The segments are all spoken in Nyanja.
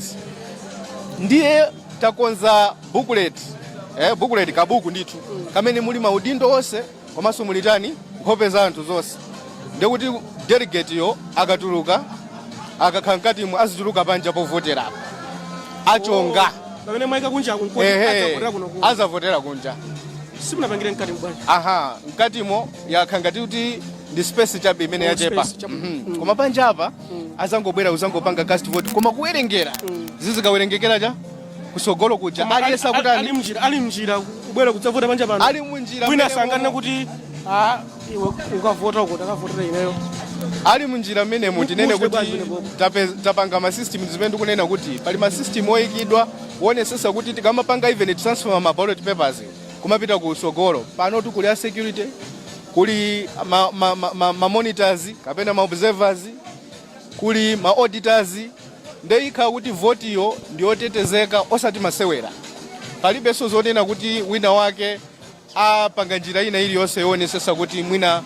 Yes. Ndiye takonza booklet. Eh, booklet kabuku ndithu. Kamene muli maudindo onse komanso muli tani nkhope za anthu zonse. Ndiye kuti delegate yo akatuluka akakhala mkatimo azituluka panja povotera apo. Achonga. pamene mwaika kunja kunkoti Ehe. adzavotera kuno kuno Azavotera kunja. simunapangire mkatimo bwanji aha mkatimo yakhala ngati kuti ndi space chabe imene Oh, yachepa space chabe. Mhm. koma panja apa azangobwera uzangopanga cast vote koma kuwerengera zizikawerengekera cha kusogolo kuja Koma ali- aliyese ali- kutani ali mnjira ali mnjira kubwera kudzavota panja pano ali munjira wina mmene sanganena momo. kuti "Ah, iwe ukavota uko takavotera ineyo ali munjira mmenemo tinene Mudziwe bwanji kuti bwino. tape- tapanga masystem zimene ndikunena kuti pali masystem oyikidwa owonesesa kuti tikamapanga even transfer ma ballot papers kumapita kusogolo panotu kuli a security kuli ma, ma, ma, ma, ma monitors kapena ma observers kuli ma auditors nde ikhala kuti votiyo ndiyotetezeka osati masewera palibenso zonena kuti wina wake apanga njira ina iliyonse yoonetsetsa kuti mwina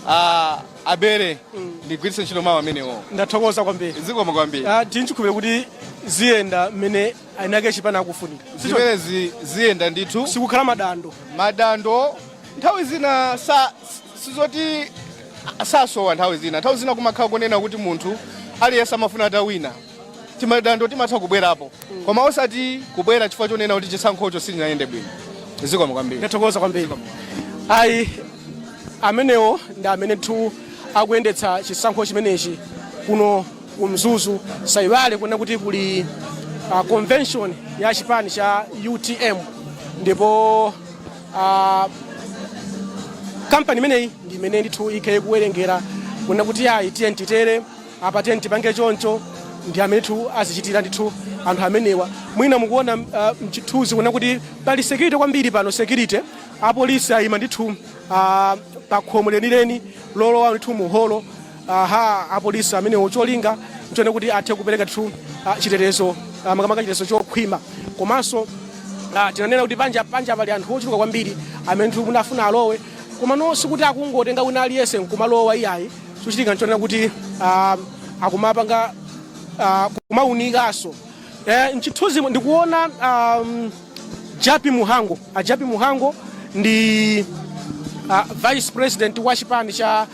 ah, abere ndigwiritse ntchito mawu amenewo ndathokoza kwambiri zikomo kwambiri Ah, tili nchikhulupiriro kuti ziyenda mmene eni ake chipani akufunika zimenezi ziyenda ndithu sipakhala madando madando nthawi zina sa sizoti sasowa nthawi zina nthawi zina kumakhala kunena kuti munthu aliyense amafuna atawina timadando timatha kubwerapo koma osati kubwera chifukwa chonena kuti chisankhocho sichinayende bwino zikomo kwambiri ndathokoza kwambiri ayi amenewo ndi amene ndithu akuyendetsa chisankho chimenechi kuno ku Mzuzu. Musaiwale kunena kuti kuli uh, convention ya chipani cha UTM ndipo uh, kampani imeneyi ndi imene ndithu ikhale ikuwerengera kunena kuti ayi tiyeni titere apa tiyeni tipange choncho ndi amene ndithu azichitira ndithu anthu amenewa mwina mukuona uh, mchithuzi kunena kuti pali security kwambiri pano security apolisi ayima ndithu uh, pa khomo lenileni lolowa ndithu muholo aha apolisi amenewo cholinga nchonena kuti athe kupereka ndithu ah, chitetezo ah, makamaka chitetezo chokhwima komanso ah, tinanena kuti panja panja pali anthu ochuluka kwambiri amene ndithu amafuna alowe komano sikuti akungotenga wina aliyense nkumalowa iyayi chochitika nchonena kuti ah, akumapanga ah, kumawunikanso Eh, mchithunzi ndikuona um, Jappie Mhango. A Jappie Mhango ndi a vice president wa chipani cha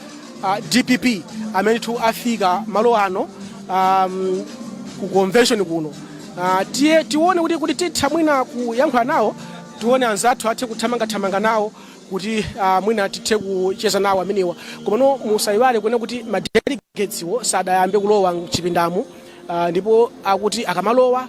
a, DPP amene ndithu afika malo ano um, ku convention kuno. Uh, tiye tione kuti kuti titha mwina kuyankhula nawo tione anzathu athe kuthamanga thamanga nawo kuti uh, mwina tithe kucheza nawo amenewa komano musayiwale kunena kuti ma delegateswo sadayambe kulowa mchipindamu Uh, ndipo akuti akamalowa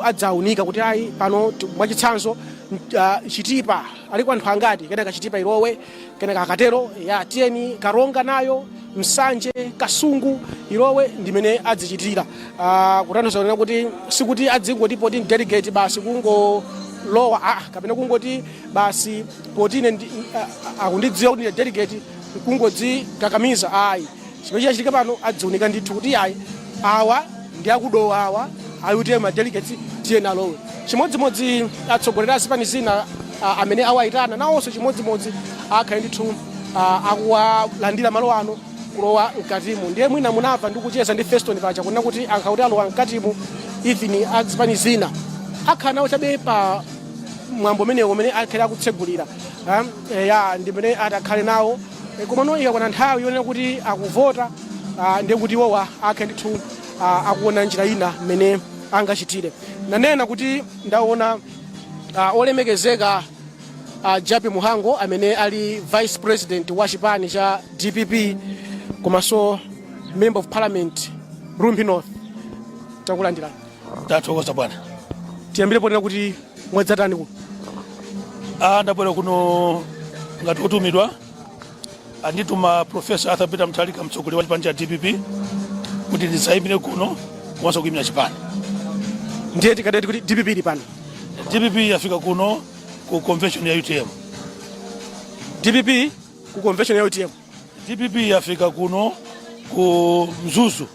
adzaunika kuti ayi pano mwachitsanzo uh, chitipa aliko anthu angati kenaka chitipa ilowe kenaka akatero ya tiyeni karonga nayo nsanje kasungu ilowe ndimene adzichitira uh, kutanthauza kunena kuti sikuti adzingoti poti delegate basi kungolowa ah, kapena kungoti basi poti ine uh, akundidziwa kuti ndi delegate kungodzikakamiza ayi Chimene chachitika pano adziunika ndithu kuti iyayi awa ndi akudowa awa ayi kuti ma delegates tiyeni alowe chimodzimodzi atsogoleri a zipani zina ah, amene awayitana nawonso chimodzimodzi akhale ndithu ah, akuwalandira malo ano kulowa mkatimo ndiye mwina munamva ndikucheza ndi feston paja kunena kuti ankati akuti alowa mkatimo even a zipani zina akhala nawo chabe pa mwambo umenewo umene akhale akutsegulira Ah, eh, ya ndimene atakhale nawo E, komano ikakwana nthawi yonena kuti akuvota ah, ndiye kuti iwowa akhale ndithu ah, akuona njira ina mmene angachitire nanena kuti ndaona ah, olemekezeka ah, japi muhango amene ali vice president wa chipani cha dpp komanso member of parliament rumphi north takulandirani tathokoza bwana tiyambire ponena kuti mwadzatani kuno ah ndabwera kuno ngati wotumidwa andituma profesa arthur peter mutharika mtsogoleri wa chipani cha dpp kuti ndidzayimire kuno komanso kuyimira chipani ndiye tikadati kuti dpp ili pano dpp yafika kuno ku convention ya utm dpp ku convention ya utm dpp yafika kuno ku mzuzu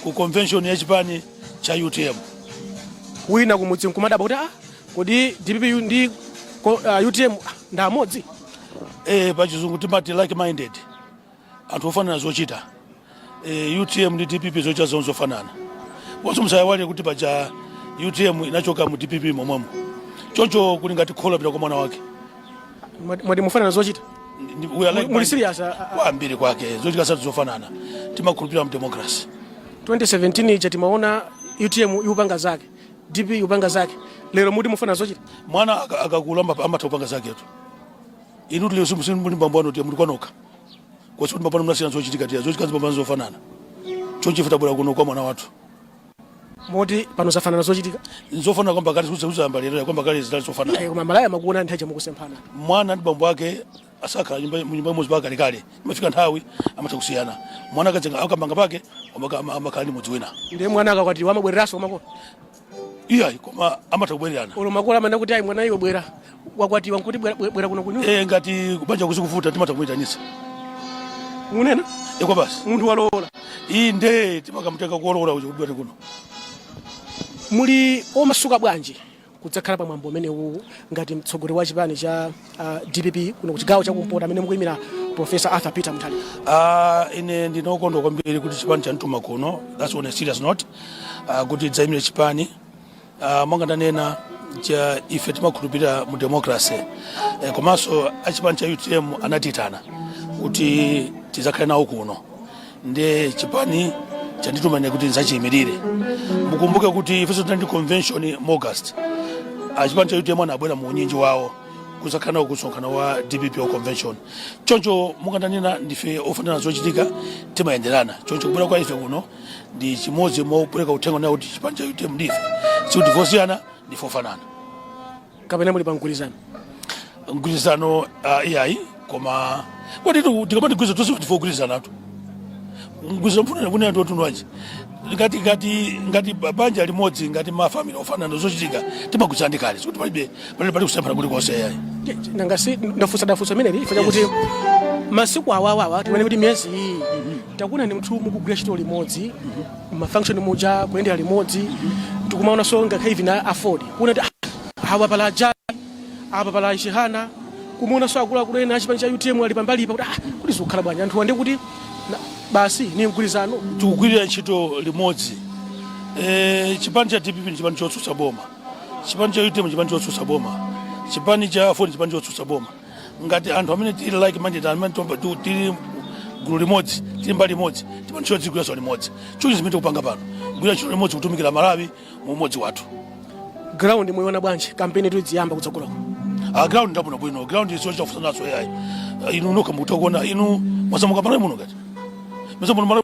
ku convention ya chipani cha utm wina kumudzi nkumadabwa kuti ah, kodi dpp yu ndi ko- uh, utm ah, ndi amodzi e, pachizungu timati like minded anthu ofanana zochita e, utm ndi dpp zochita zawo zofanana komanso musayiwale kuti paja utm inachoka mu dpp momwemo choncho kuli ngati kholo lapita kwa mwana wake Mwati mwati mufanana zochita? Ndi- ndi- we are like- Muli serious? a- a- kwambiri kwake zochita zathu zofanana timakhulupirira mdemokrasi 2017 ija timaona utm ikupanga zake dp ikupanga zake lero mukuti mufanana zochita mwana aka- akakula ama- amatha kupanga zaketu inu tili simu- simu- muli ndi bambo anu tiye muli kwanokha koma sikuti bambo anu mnasiyana zochitika tiya zochitika zipambana zofanana nchifukwa tabwera kuno kwa mwana wathu moti pano zafanana zochitika nzofanana kuyamba kale sizayamba lero kuyamba kale zidali zofanana koma amalawi amakuona nthawi ija mukusemphana mwana ndi bambo ake sakhala nyumba nyumba imodzi mpaka kalekale imafika nthawi amatha kusiyana mwana akazenga akamanga pake amaka- ama- amakhala ndi mudzi wina ndiye mwana akakwatiwa amabwereranso kumakolo iyayi koma amatha kubwererana ulo makolo amanena kuti ayi mwana iwe bwera wakwatiwa nkuti bwera- bwera bwera kuno kuno Eh, ngati kubanja kuzikuvuta timatha kuitanisa kunena kwake basi munthu walowola ndiye timakamutenga kulowola uja kuti bwere kuno muli omasuka bwanji kudzakhala pa mwambo umenewu ngati mtsogoleri wa chipani cha ah, dpp kuno ku chigawo chakumpoto amene mukuyimira profesa arthur peter mutharika Ah, ine ndinokondwa kwambiri kuti chipani chanituma kuno that's on a serious note Ah, kuti ndidzaimire chipani Uh, monga ndanena muja ife timakhulupirira mu democracy eh, komanso achipani cha utm anatitana kuti tizakhale nawo kuno ndi chipani chandituma ine kuti nzachiyimirire mukumbuke kuti ifenso tinali ndi convention mu august achipani cha utm anabwera mu unyinji wawo kuzakhala nawo kumsonkhano wa dpp wa convention choncho monga ndanena ndife ofanana zochitika timayenderana choncho kubwera kwa ife kuno ndi chimodzi mopereka uthenga nao kuti chipani cha utm ndife sikuti ndife osiyana ndife ofanana kapena muli pa mgwirizano mgwirizano uh, iyayi koma kodi tu- tikamati mgwirizano tonse ndife ogwirizanatu mgwirizano mufuna kunena ndi wamtundu wanji ngati ngati ngati ba- banja limodzi ngati mafamili ofanana zochitika timagwirizana ndi kale sikuti palibe pali pali kusemphana kulikonse iyayi nanga si ndafunsa ndafunsa zimenezi chifukwa chakuti masiku awawawa tinene kuti miyezi iyi takuonani muntu mukugwira ntchito limodzi mafunction muja kuyendera limodzi tikumaonanso ngakhale ivi na aford kunena kuti "Ah, awa pala ajali apa pala chihana kumuonanso akuluakulu ena achipani cha utm ali pambali pa kuti ah, kuti zikukhala bwanji anthu nde akuti na- basi ni mgwirizano tikugwirira ntchito limodzi e, chipani cha dpp ni chipani chotsutsa boma chipani cha utm chipani chotsutsa boma chipani cha aford chipani chotsutsa boma ngati anthu amene tili like minded amene tomba tu- tili gulu limodzi tili mbali limodzi ndipo ntchito timagwiranso limodzi choncho zimene tikupanga pano kugwira ntchito limodzi kutumikira malawi mu umodzi wathu ground muyiona bwanji kampeni tikudzayamba kutsogoloko a ground ndiyabwino bwino ground siyochita kufunsananso ayi inu nokha mukutha kuona inu mwasamuka mu malawi muno ngati mesa muno malawi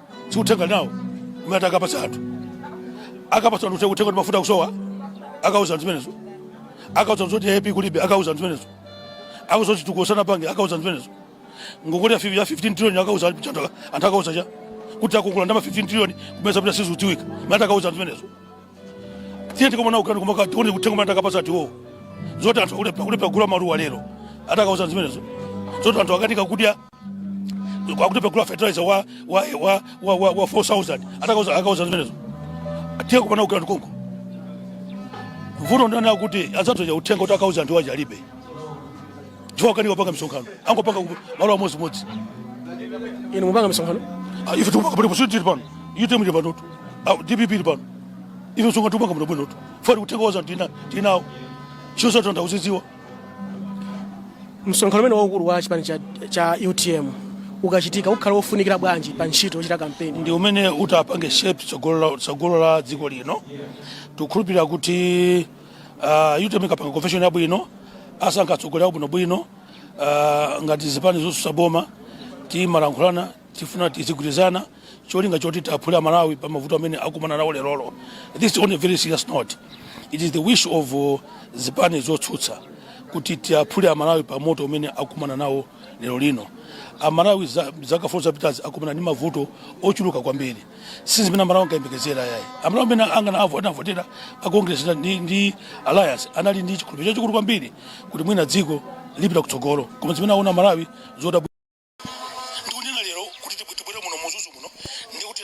si uthenga iwowo umene atakapatsa anthu akapatsa anthu uthenga kuti mafuta akusowa akauza anthu zimenezo akauza anthu zoti aip kulibe akauza anthu zimenezo akauza kuti tikuwopsezana pangeni akauza anthu zimenezo ngongole ya fif- ya 15 trillion akauza anthu chanthu anthu akauza cha kuti akongola ndalama 15 trillion komwe zapita sizikudziwika mmati akauza anthu zimenezo tiye tikomana kukampeni komweko tione uthenga umene atakapatsa anthu iwowo zoti anthu akulephera akulephera kugula maluwa lero atakauza anthu zimenezo zoti anthu akukanika kudya akulephera kugula fertilizer wa wa wa wa wa, wa 4000 atakauza akauza zimenezo tiyeni kukampeni tukakumana konko vuto ndilakuti anzathuwa uthenga woti akauze anthu awo alibe chifukwa akanika kupanga msonkhano angopanga ku- malo amodzi modzi inu mupanga misonkhano Ah, ife tikupanga paliponse si tili pano utm ili pano tu Ah, dpp ili pano ife msonkhano tikupanga muno bwino tu fati uthenga wathu tina tinawo zolinga zathu anthu akuzidziwa msonkhano umene waukulu wa chipani cha, cha utm ukachitika ukhala wofunikira bwanji pa ntchito yochita kampeni ndi umene utapange shape tsogolo la- tsogolo la dziko lino tikukhulupirira kuti uh, utm ikapanga convention yabwino asankha atsogoleri abwinobwino uh, ngati zipani zotsutsa boma timalankhulana tifuna tizigwirizana cholinga choti tiaphule amalawi pa mavuto amene akumana nawo lerolo this is on a very serious note it is the wish of uh, zipani zotsutsa kuti tiaphule amalawi pa moto umene akumana nawo lero lino amalawi za- zaka 4 zapitazi akumana ndi mavuto ochuluka kwambiri si zimene amalawi ankayembekezera yayi amalawi amene anganaavo anavotera pa congress na- ndi, ndi alliance anali ndi chikhulupiriro chachikulu kwambiri kuti mwina dziko lipita kutsogolo koma zimene aona amalawi zodabwitsa ndikunena lero kuti tibwere muno mu Mzuzu muno ndikuti